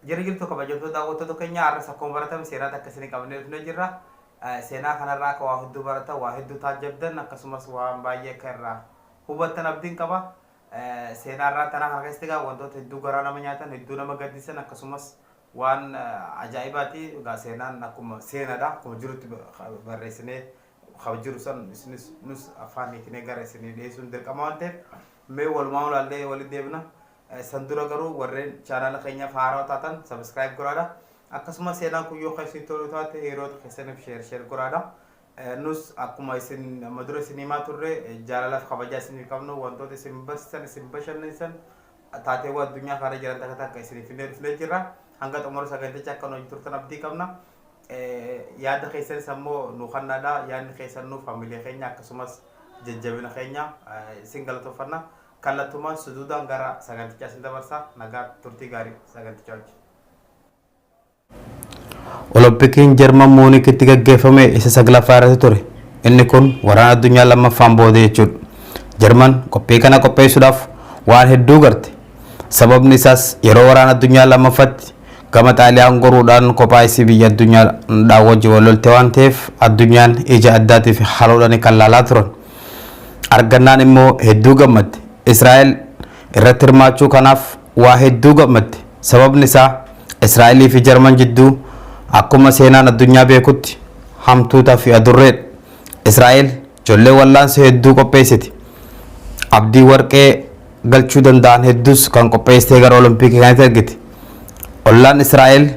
Jira jirtu kabajamtoota daawwattoota keenya har'as akkuma baratame seenaa takka isinii qabannee dhufnee jirra. Seenaa kanarraa akka waa hedduu baratan, waa hedduu taajjabdan akkasumas waan baay'ee akka irraa hubattan abdiin qaba. Seenaa irraa tanaa kana keessatti egaa wantoota hedduu garaa nama nyaatan, hedduu nama gaddisiisan akkasumas waan ajaa'ibaati. Egaa seenaan akkuma seenaadha. Akkuma jirutti barreessinee kan jiru san isinis nus afaan hiiknee gara isinii dhiyeessuun dirqama waan ta'eef mee walumaa ulaallee walitti deebina. San dura garuu warreen chaanaala keenyaaf haarawa taatan sabiskiraayib godhaadha. Akkasumas seenaan kun yoo keessi toluu taate hiriyoota keessaniif sheer sheer godhaadha. Nus akkuma isin amma dura isin himaa turre jaalalaaf kabajaa isiniif qabnu wantoota isin barsiisan isin bashannansiisan taateewwan addunyaa kana jiran takka takka isiniif finnee dhufnee jirra. Hanga xumura saganticha akka nu wajjin turtan abdii qabna. Yaada keessanis ammoo nu kannaadha. Yaadni keessan nuuf hamilee keenya akkasumas jajjabina keenya isin galatooffanna. Kallattumaan sujuudaan gara sagantichaa isin dabarsa. Nagaa turtii gaarii sagantichaa wajjin. Olompikiin Jarman Muunikitti gaggeeffame isa saglaffaa irratti ture. Inni kun waraana addunyaa lammaffaan booda jechuudha. Jarman qophii kana qopheessuudhaaf waan hedduu garte. Sababni isaas yeroo waraana addunyaa lammaffatti gama Xaaliyaan goruudhaan kophaa isii biyya addunyaadhaa wajjin wal lolte waan ta'eef addunyaan ija addaatii fi haloodhaan kan laalaa turan. Argannaan immoo hedduu gammadde. Israa'el irratti hirmaachuu kanaaf waa hedduu gammadde. Sababni isaa Israa'elii fi Jarman jidduu akkuma seenaan addunyaa beekutti hamtuuta fi adurreedha. Israa'el jollee wallaansa hedduu qopheessiti. Abdii warqee galchuu danda'an hedduus kan qopheessitee gara Olompikii kanatti ergiti. Ollaan Israa'el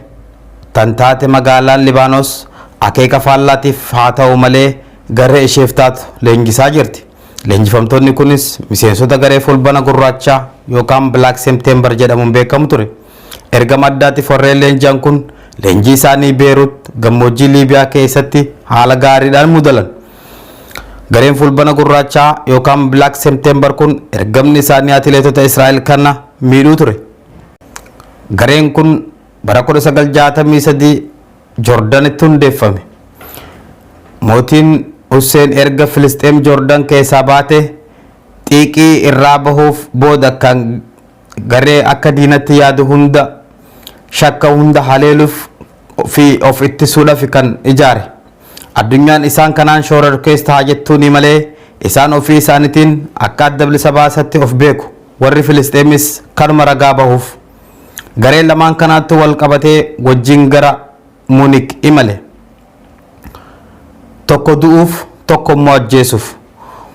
tan taate magaalaan Libaanos akeeka faallaatiif haa ta'u malee garee isheef taatu leenjisaa jirti. Leenjifamtoonni kunis miseensota garee Fulbana Gurraachaa yookaan Black September jedhamuun beekamu ture. Ergama addaatiif warreen leenji'an kun leenjii isaanii Beerut gammoojjii Liibiyaa keessatti haala gaariidhaan mudalan. Gareen Fulbana Gurraachaa yookaan Black September kun ergamni isaanii atileetota Israa'el kana miidhuu ture. Gareen kun bara 1963 Jordanitti hundeeffame. Mootiin Husseen erga Filisxeem Jordan keessaa baatee xiiqii irraa bahuuf booda akkaan garee akka diinatti yaadu hunda shakka hunda haleeluuf fi of ittisuudhafi kan ijaare. Addunyaan isaan kanaan shoorarkees taha jettuunii malee isaan ofii isaanitiin akka adda bilisa baasatti of beeku. Warri Filisxeemis kanuma ragaa bahuuf. Garee lamaan kanaatti walqabatee wajjin gara Munik imale. Tokko du'uuf tokko immoo ajjeesuuf.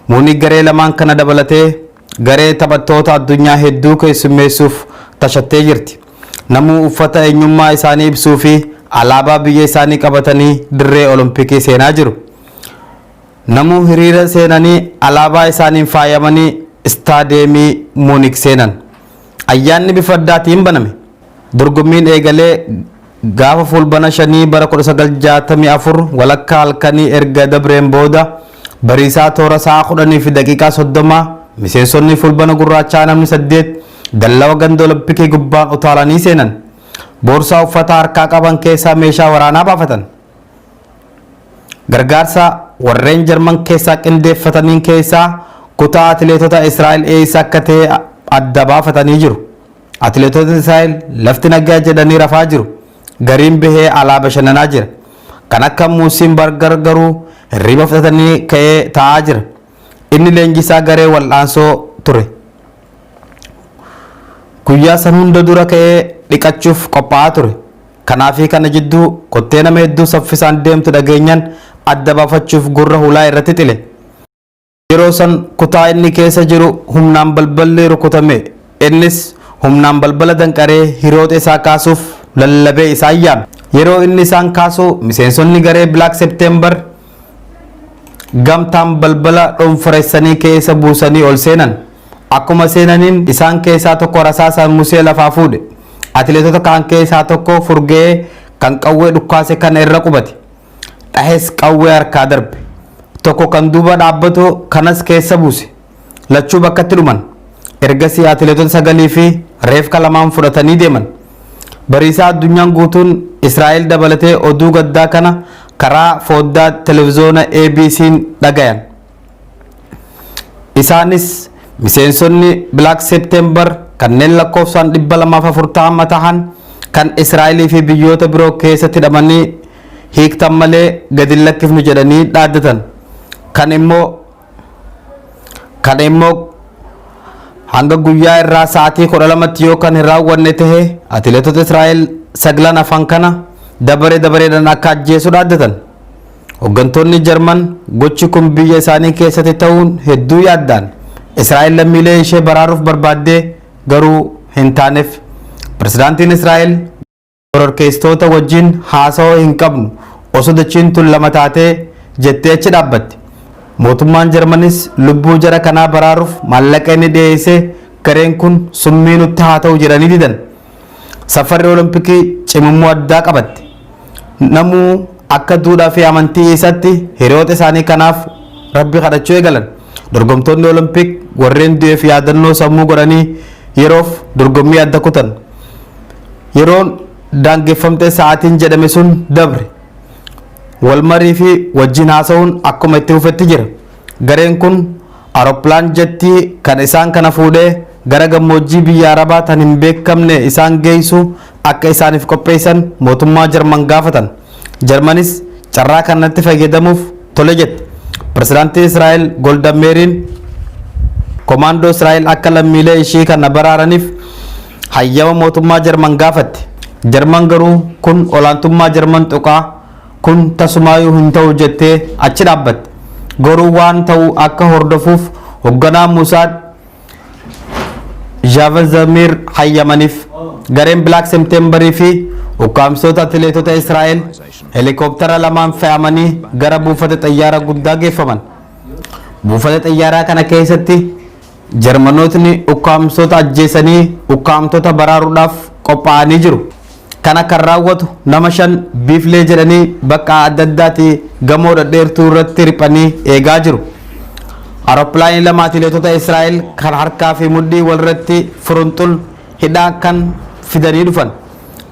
Munik garee lamaan kana dabalatee garee taphattoota addunyaa hedduu keessummeessuuf tashattee jirti. Namuu uffata eenyummaa isaanii ibsuu fi alaabaa biyya isaanii qabatanii dirree Olompikii seenaa jiru. Namuu hiriira seenanii alaabaa isaaniin faayamanii istaadiyeemii Munik seenan. Ayyaanni bifa addaatiin baname. Dorgommiin eegalee gaafa Fuulbana 5 bara 1964 walakkaa halkanii erga dabreen booda bariisaa toora sa'a 10:30 miseensonni Fuulbana Gurraachaa namni 8 dallawa ganda Olompikii gubbaan utaalanii seenan. Boorsaa uffataa harkaa qaban keessaa meeshaa waraanaa baafatan. Gargaarsa warreen Jarman keessaa qindeeffataniin keessaa kutaa atileetota Israa'el eessa akka ta'e adda baafatanii jiru. Atileetotni Israa'el lafti nagaa jedhanii rafaa jiru. Gariin bahee alaa bashannanaa jira. Kan akka Muusiin Bargar garuu hirriba fudhatanii ka'ee taa'aa jira. Inni leenjisaa garee wal'aansoo ture. Guyyaa san hunda dura ka'ee dhiqachuuf qophaa'aa ture. Kanaafi kana jidduu kottee nama hedduu saffisaan deemtu dhageenyan adda baafachuuf gurra hulaa irra tixile. Yeroo san kutaa inni keessa jiru humnaan balballi rukutame. Innis humnaan balbala danqaree hiriyooxa isaa kaasuuf lallabee isaan yaame. Yeroo inni isaan kaasu miseensonni garee Black September gamtaan balbala dhonforessanii keessa buusanii ol seenan. Akkuma seenaniin isaan keessaa tokko rasaasaan musee lafaa fuudhe. Atileetota kaan keessaa tokko furgee kan qawwee dhukkaase kana irra qubate. Dhahes qawwee harkaa darbe. Tokko kan duuba dhaabbatu kanas keessa buuse. Lachuu bakkatti dhuman. Ergasii atileetota sagalii fi reefka lamaan fudhatanii deeman. Bariisaa addunyaan guutuun Israa'el dabalatee oduu gaddaa kana karaa fooddaa televizoona ABC'n dhagayan. Isaanis miseensonni Black September kanneen lakkoofsaan 240 tahan kan Israa'elii fi biyyoota biroo keessatti hidhamanii hiiktan malee gadi hin lakkifnu jedhanii dhaaddatan. Kan immoo Kan immoo hanga guyyaa irraa sa'aatii 12tti yoo kan hin raawwanne tahe atileetota Israa'el saglan afan kana dabaree dabareedhaan akka ajjeesu dhaaddatan. Hoggantoonni Jarman gochi kun biyya isaanii keessatti ta'uun hedduu yaaddaan Israa'el lammiilee ishee baraaruuf barbaaddee garuu hin taaneef. Pirezidaantiin Israa'el Shororkeessitoota wajjin haasawa hin qabnu, osoo dachiin tun lama taatee jettee achi dhaabbatte. Mootummaan Jarmanis lubbuu jara kanaa baraaruuf maallaqa inni dhiyeesse gareen kun summii nutti haa ta'u jedhanii didan. Safarri Olompikii cimummoo addaa qabatte. Namuu akka duudhaa fi amantii isatti hiriyoota isaanii kanaaf Rabbi kadhachuu eegalan. Dorgomtoonni Olompik warreen du'eef yaadannoo sammuu godhanii yeroof dorgommii adda kutan. Yeroon daangeffamtee sa'aatiin jedhame sun dabre. Walmarii fi wajjin haasa'uun akkuma itti fufetti jira. Gareen kun aeroplaan jettii kan isaan kana fuudhee gara gammoojjii biyya Arabaa tan hin beekamne isaan geeysu akka isaaniif qopheeysan mootummaa Jarman gaafatan. Jarmanis carraa kanatti fayyadamuuf tole jette. Pirezidaantii Israa'el Golda Meeriin komaandoo Israa'el akka lammiilee ishii kana baraaraniif hayyama mootummaa Jarman gaafatte. Jarman garuu kun olaantummaa Jarman tuqa, kun tasumaayuu hin ta'u jettee achi dhaabbatte. Garuu waan ta'u akka hordofuuf hogganaa Mossad Javad Zamir hayyamaniif. Gareen Black September fi ukkaamsitoota atileetota Israa'el helikoopptara lamaan fe'amanii gara buufata xayyaara guddaa geeffaman. Buufata xayyaaraa kana keessatti Jarmanootni ukkaamsota ajjeesanii ukkaamtota baraaruudhaaf qophaa'anii jiru. Kana kan raawwatu nama shan biiflee jedhanii bakka adda addaati gamoo dhadheertuu irratti riphanii eegaa jiru. Arooppilaanii lama atileetota Israa'el kan harkaa fi mudhii walirratti furunxul hidhaa kan fidanii dhufan.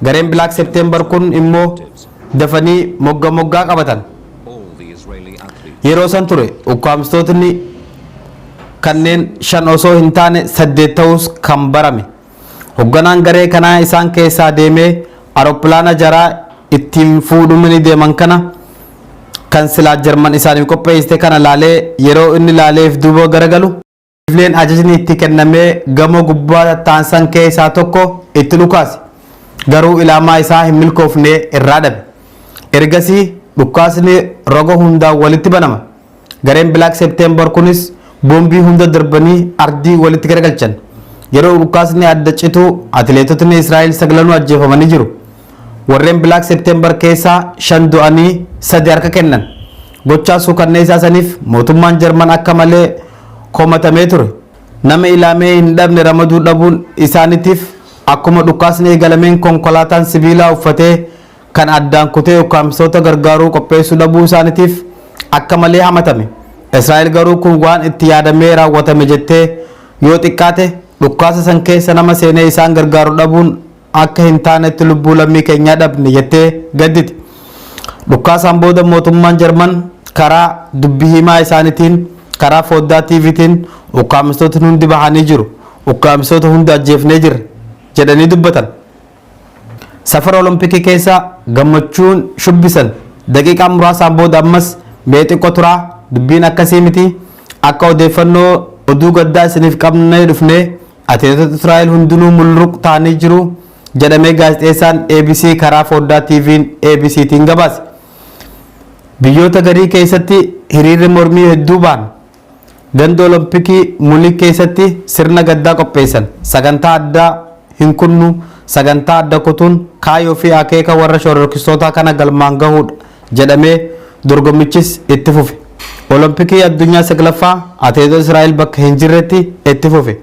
Gareen Black September kun immoo dafanii mogga moggaa qabatan. Yeroo san ture ukkaamstootni kanneen shan osoo hin taane saddeet ta'uus kan barame. Hogganaan garee kanaa isaan keessaa deemee aeroppilaana jaraa ittiin fuudhumini deeman kana kan silaa Jarman isaaniif qopheessite kana laalee yeroo inni laaleef duuba garagalu, Kifleen ajajni itti kennamee gamoo gubbaa tattaa'an san keessaa tokko itti dhukaase. Garuu ilaamaa isaa hin milkoofne irraa dhabe. Ergasii dhukkaasni roga hundaan walitti banama. Gareen Black September kunis boombii hunda darbanii ardii walitti garagalchan. Yeroo dhukaasni adda citu atileetotni Israa'el saglanuu ajjeefamanii jiru. Warreen Black September keessaa shan du'anii sadi harka kennan. Gochaa suukanneessaa saniif mootummaan Jarman akka malee komatamee ture. Nama ilaamee hin dhabne ramaduu dhabuun isaanitiif akkuma dhukaasni eegalameen konkolaataan sibiilaa uffatee kan addaan kutee ukkaamsitoota gargaaruu qopheessuu dhabuu isaanitiif akka malee hamatame. Israa'el garuu kun waan itti yaadamee raawwatame jettee yoo xiqqaate dhukkaasa san keessa nama seenee isaan gargaaru dhabuun akka hin taanetti lubbuu lammii keenyaa dhabne jettee gadditi. Dhukkaasaan booda mootummaan Jarman karaa dubbi himaa isaanitiin karaa fooddaa TVtiin ukkaamsitootni hundi bahanii jiru. Ukkaamsitoota hunda ajjeefnee jirra jedhanii dubbatan. Safara Olompikii keessa gammachuun shubbisan. Daqiiqaa muraasaan booda ammas mee xiqqo turaa dubbiin akkasii miti akka odeeffannoo oduu gaddaa isiniif qabnee dhufne atileetota Israa'el hundinuu mulluq ta'anii jiru jedhamee gaazexeessaan ABC karaa fooddaa TV'n ABCtiin gabaase. Biyyoota garii keessatti hiriirri mormii hedduu ba'an. Ganda Olompikii Munik keessatti sirna gaddaa qopheessan. Sagantaa addaa hin kunnu, sagantaa adda kutuun kaayoo fi akeeka warra shororkistootaa kana galmaan gahuudha jedhamee dorgommichis itti fufe. Olompikii Addunyaa 9ffaa Atileetota Israa'el bakka hin jirretti itti fufe.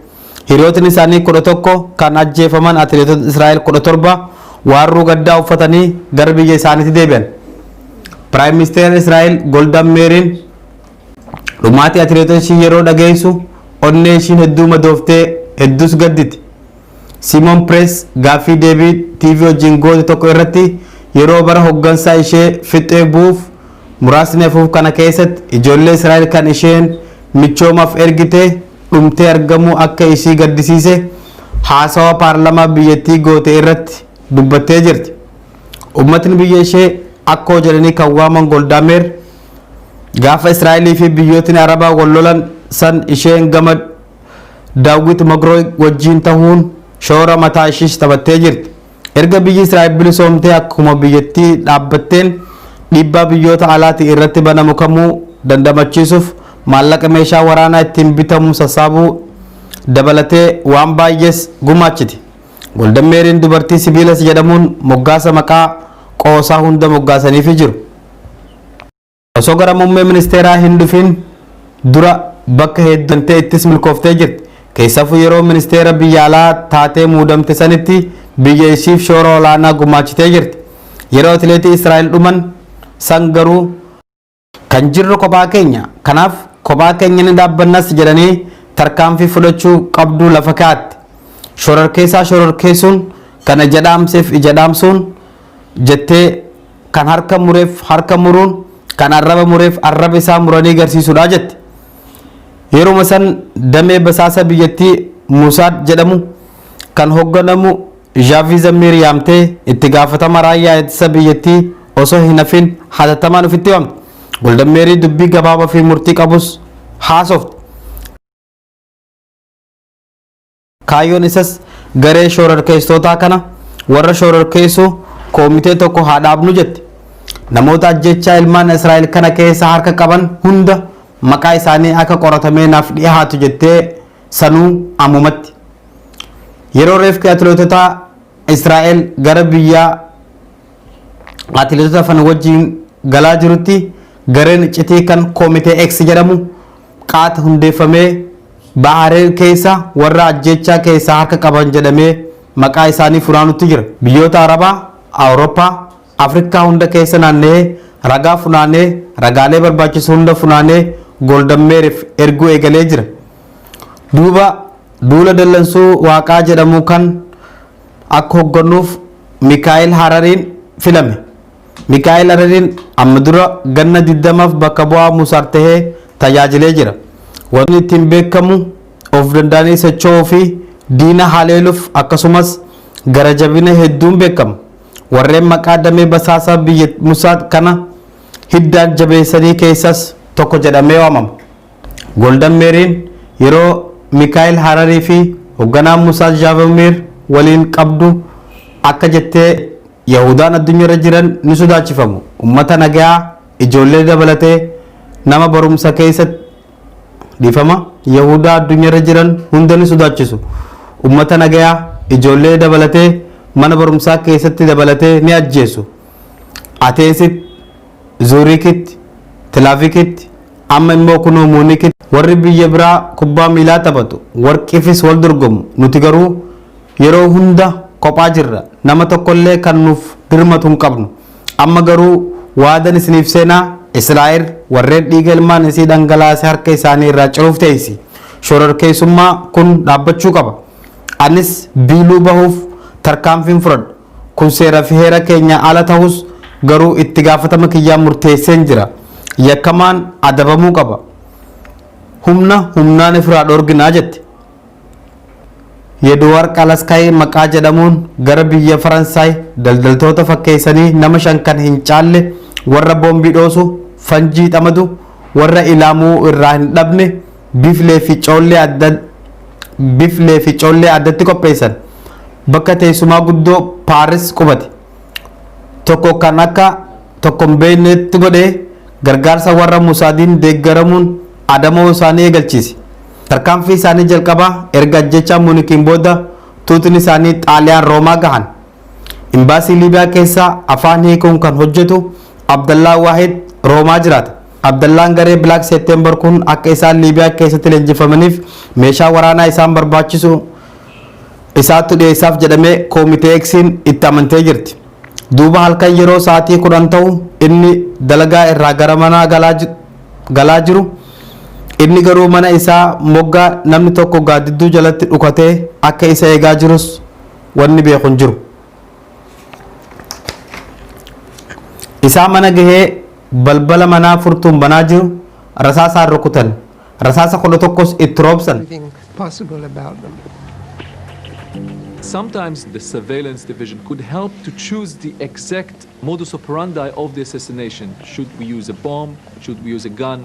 Hiriyootni isaanii 11 kan ajjeefaman atileetota Israa'el 17 waarruu gaddaa uffatanii gara biyya isaaniitti deebi'an. Piraayim Ministeera Israa'el Goldaan Meeriin Dhumaatii atileetota ishii yeroo dhageessu onnee ishiin hedduu madooftee hedduus gadditi. Siimoon Pirees gaaffii deebii TV wajjin goote tokko irratti yeroo bara hoggansaa ishee fixxee bu'uuf muraasni hafuuf kana keessatti ijoollee Israa'el kan isheen michoomaaf ergite dhumtee argamuu akka ishii gaddisiise haasawaa paarlamaa biyyattii goote irratti dubbattee jirti. Ummatni biyya ishee Akkoo jedhanii kan waaman Goldaameer Gaafa Israa'elii fi biyyootni Arabaa wal lolan san isheen gama Daawwit Magrooy wajjiin tahuun shoora mataa ishiis taphattee jirti. Erga biyyi Israa'el bilisoomtee akkuma biyyattii dhaabbatteen dhiibbaa biyyoota alaatii irratti banamu kamuu dandamachiisuuf maallaqa meeshaa waraanaa ittiin bitamu sassaabuu dabalatee waan baay'ees gumaachiti. Goldan Meeriin dubartii sibiilas jedhamuun moggaasa maqaa qoosaa hunda moggaasaniifii jiru. Osoo gara muummee ministeeraa hin dhufiin dura bakka hedduu deemtee ittis milkooftee jirti. Keessafuu yeroo ministeera biyya alaa taatee muudamte sanitti biyya ishiif shoora olaanaa gumaachitee jirti. Yeroo atileetii Israa'el dhuman san garuu. Kan jirru kophaa keenya. Kanaaf kophaa keenya ni dhaabbannas jedhanii tarkaanfii fudhachuu qabdu lafa kaa'atte. Shororkeessaa shororkeessuun kan ija dhaamseef ija dhaamsuun jettee Kan harka mureef harka muruun, kan arraba mureef arraba isaa muranii garsiisudha jette. Yeruma san damee basaasa biyyattii Musaad jedhamu kan hogganamu Zhaavii Zammiir yaamtee itti gaafatama raayyaa ittisa biyyattii osoo hin hafin hatattamaan ofitti waamte. Goldan Meerii dubbii gabaabaa fi murtii qabus haasofte. Kaayyoon isas garee shoorarkeessitootaa kana warra shoorarkeessu koomitee tokko haa dhaabnu jette. Namoota ajjechaa ilmaan Israa'el kana keessa harka qaban hunda maqaa isaanii akka qoratamee naaf dhihaatu jettee sanuu ammumatti. Yeroo reefki atileetota Israa'el gara biyya atileetota fan wajjin galaa jirutti gareen iccitii kan koomitee X jedhamu qaata hundeeffamee Bahaareen keessa warra ajjeechaa keessaa harka qaban jedhamee maqaa isaanii funaanutti jira. Biyyoota Arabaa, Awurooppaa, Afrikkaa hunda keessa naanna'ee ragaa funaanee ragaalee barbaachisu hunda funaanee Golden Meerif erguu eegalee jira. Duuba duula dallansuu waaqaa jedhamuu kan akka hoggannuuf Mikaa'el Harariin filame. Mikaa'el Arariin amma dura ganna 20f bakka bu'aa Musar tahee tajaajilee jira. Wantootni ittiin beekkamu of danda'anii socho'uu fi diina haleeluf akkasumas gara jabina hedduun beekkama. Warreen maqaa damee basaasa biyya Musad kana hiddaan jabeessanii keessas tokko jedhamee waamama. Goldan Meeriin yeroo Mikaa'el Hararii fi hogganaa Musad Zhaavomir waliin qabdu akka jettee Yahuudaan addunyarra jiran ni sodaachifamu. Ummata nagayaa, ijoollee dabalatee, nama barumsa keessa dhiifama Yahuudaa addunyarra jiran hunda ni sodaachisu. Ummata nagayaa, ijoollee dabalatee, mana barumsaa keessatti dabalatee ni ajjeesu. Ateensitti Zuuriikitti, Tilaavikitti, amma immoo kunoo Muunikitti warri biyya biraa kubbaa miilaa taphatu, warqiifis wal dorgomu, nuti garuu yeroo hunda kophaa jirra, nama tokkollee kan nuuf dirmatu hin qabnu. Amma garuu waadan isiniif seena, Israa'el warreen dhiiga ilmaan isii dhangalaase harka isaanii irraa ciruuf teessi. Shororkeessummaa kun dhaabbachuu qaba. Anis biiluu bahuuf tarkaanfiin fudhadha. Kun seera fi heera keenyaa ala tahus garuu itti gaafatama kiyyaa murteesseen jira. Yakkamaan adabamuu qaba. Humna humnaan ifiraa dhoorgina jette. Yeduwaar Qalaskaay maqaa jedhamuun gara biyya Faransaay daldaltoota fakkeessanii nama shan kan hin caalle warra boombii dhoosu, fanjii dhamadu, warra ilaamuu irraa hin dhabne, Biflee fi coollee adda Biflee fi coollee addatti qopheessan bakka teessumaa guddoo Paaris qubate tokko kan akka tokko hin beeknetti godhee gargaarsa warra Musaadiin deeggaramuun adamoo isaanii eegalchiise. Tarkaanfii isaanii jalqabaa erga ajjechaa Muunikiin booda tuutni isaanii Xaaliyaan Roomaa gahan. Imbaasii Liibiyaa keessaa afaan hiikuun kan hojjetu Abdallaa Waahid Roomaa jiraata. Abdallaan garee Black September kun akka isaan Liibiyaa keessatti leenjifamaniif meeshaa waraanaa isaan barbaachisu isaattu dhiyeessaaf jedhamee Koomitee Eksiin itti amantee jirti. Duuba halkan yeroo sa'aatii kudhan ta'u inni dalagaa irraa gara manaa galaa ji- galaa jiru inni garuu mana isaa moggaa namni tokko gaaddidduu jalatti dhukatee akka isa eegaa jirus wanni beeku hin jiru. isaa mana gahee balbala manaa furtuun banaa jiru rasaasaan rukutan rasaasa kudha tokkos itti roobsan everything possible about them. Sometimes the surveillance division could help to choose the exact modus operandi of the assassination. Should we use a bomb? Should we use a gun?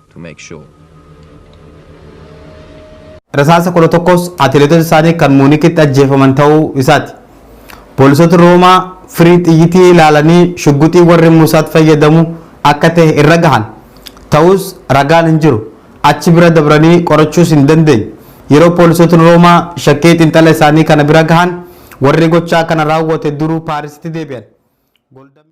to make sure. Rasaasa 11s atileetota isaanii kan Muunikitti ajjeefaman ta'uu isaati. Poolisooti Roomaa firii xiyyitii ilaalanii shugguxii warri Muusaat fayyadamu akka ta'e irra gahan. Ta'us ragaan hin jiru. Achi bira dabranii qorachuus hin dandeenye. Yeroo poolisootni Roomaa shakkii xiinxala isaanii kana bira gahan warri gochaa kana raawwate duruu Paarisitti deebi'an.